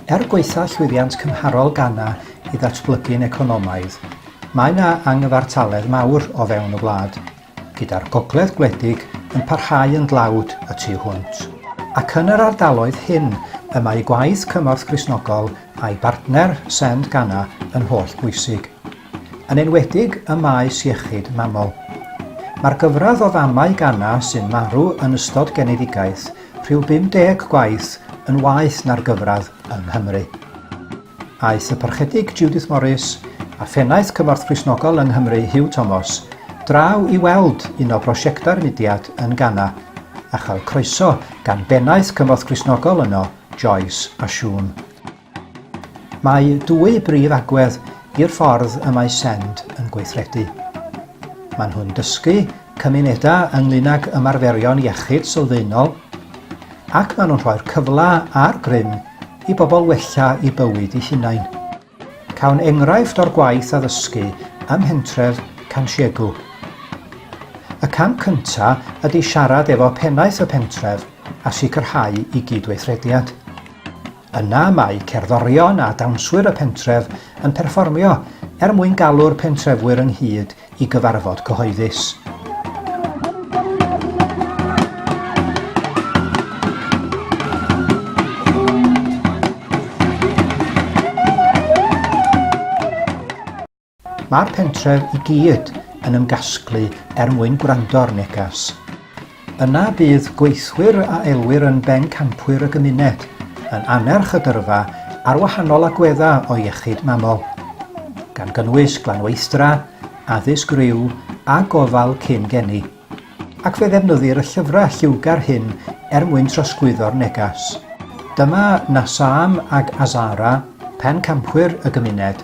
Er gwaetha llwyddiant cymharol Ghana i ddatblygu'n economaidd, mae yna angyfartaledd mawr o fewn y wlad. gyda'r gogledd gwledig yn parhau yn dlawd y tu hwnt, ac yn yr ardaloedd hyn y mae gwaith Cymorth Gristnogol a'i bartner Send Ghana yn holl bwysig, yn enwedig ym maes iechyd mamol. Mae'r gyfradd o famau Ghana sy'n marw yn ystod genedigaeth, rhyw 50 gwaith yn waeth na'r gyfradd yng Nghymru. aeth y Parchedig Judith Morris a Phennaeth Cymorth Cristnogol yng Nghymru Huw Tomos draw i weld un o brosiectau'r mudiad yn Ghana a chael croeso gan Bennaeth Cymorth Cristnogol yno, Joyce a Siôn. Mae dwy brif agwedd i'r ffordd y mae SEND yn gweithredu. Maen nhw'n dysgu cymunedau ynglyn ag ymarferion iechyd sylfaenol ac maen nhw'n rhoi'r cyfle a'r grym i bobl wella eu bywyd eu hunain. Cawn enghraifft o'r gwaith addysgu ym mhentref Cansiegu. Y cam cynta ydy siarad efo pennaeth y pentref a sicrhau i gyd-weithrediad. Yna mae cerddorion a dawnswyr y pentref yn perfformio er mwyn galw'r pentrefwyr ynghyd i gyfarfod cyhoeddus. Mae'r pentref i gyd yn ymgasglu er mwyn gwrando'r negas. Yna bydd gweithwyr a elwir yn bencampwyr y gymuned, yn annerch y gyrfa ar wahanol agweddau o iechyd mamol, gan gynnwys glanweithdra, addysg rhyw a gofal cyn geni, ac fe ddefnyddir y llyfrau lliwgar hyn er mwyn trosglwyddo'r neges. Dyma Nasaam ac Azara, pencampwyr y gymuned,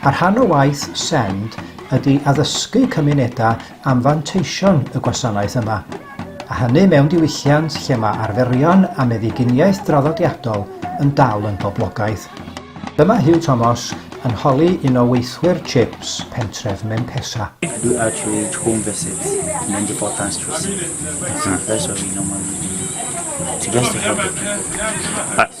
A rhan o waith SEND ydy addysgu cymunedau am fanteision y gwasanaeth yma, a hynny mewn diwylliant lle mae arferion a meddyginiaeth draddodiadol yn dal yn boblogaidd. Dyma Huw Tomos yn holi un o weithwyr CHIPS pentref Menpesa. I do outreach, home visits, and independence tracing. That's the first what we normally do to just to help the people.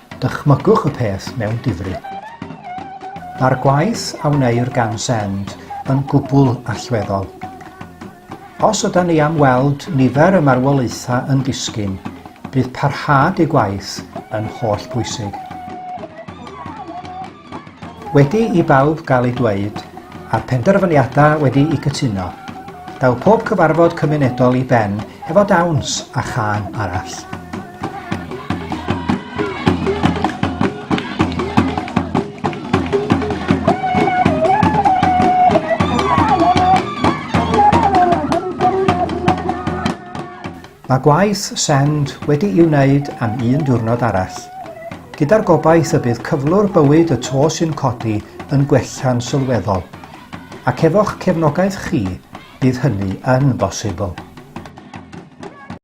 Dychmygwch y peth mewn difri. Mae'r gwaith a wneir gan Send yn gwbl allweddol. Os yda ni am weld nifer y marwolaethau yn disgyn, bydd parhad ei gwaith yn holl bwysig. Wedi i bawb gael eu dweud, a'r penderfyniadau wedi'u cytuno, daw pob cyfarfod cymunedol i ben efo dawns a chân arall. Mae gwaith send wedi'i wneud am un diwrnod arall, gyda'r gobaith y bydd cyflwr bywyd y to sy'n codi yn gwella'n sylweddol, ac efo'ch cefnogaeth chi, bydd hynny yn bosibl.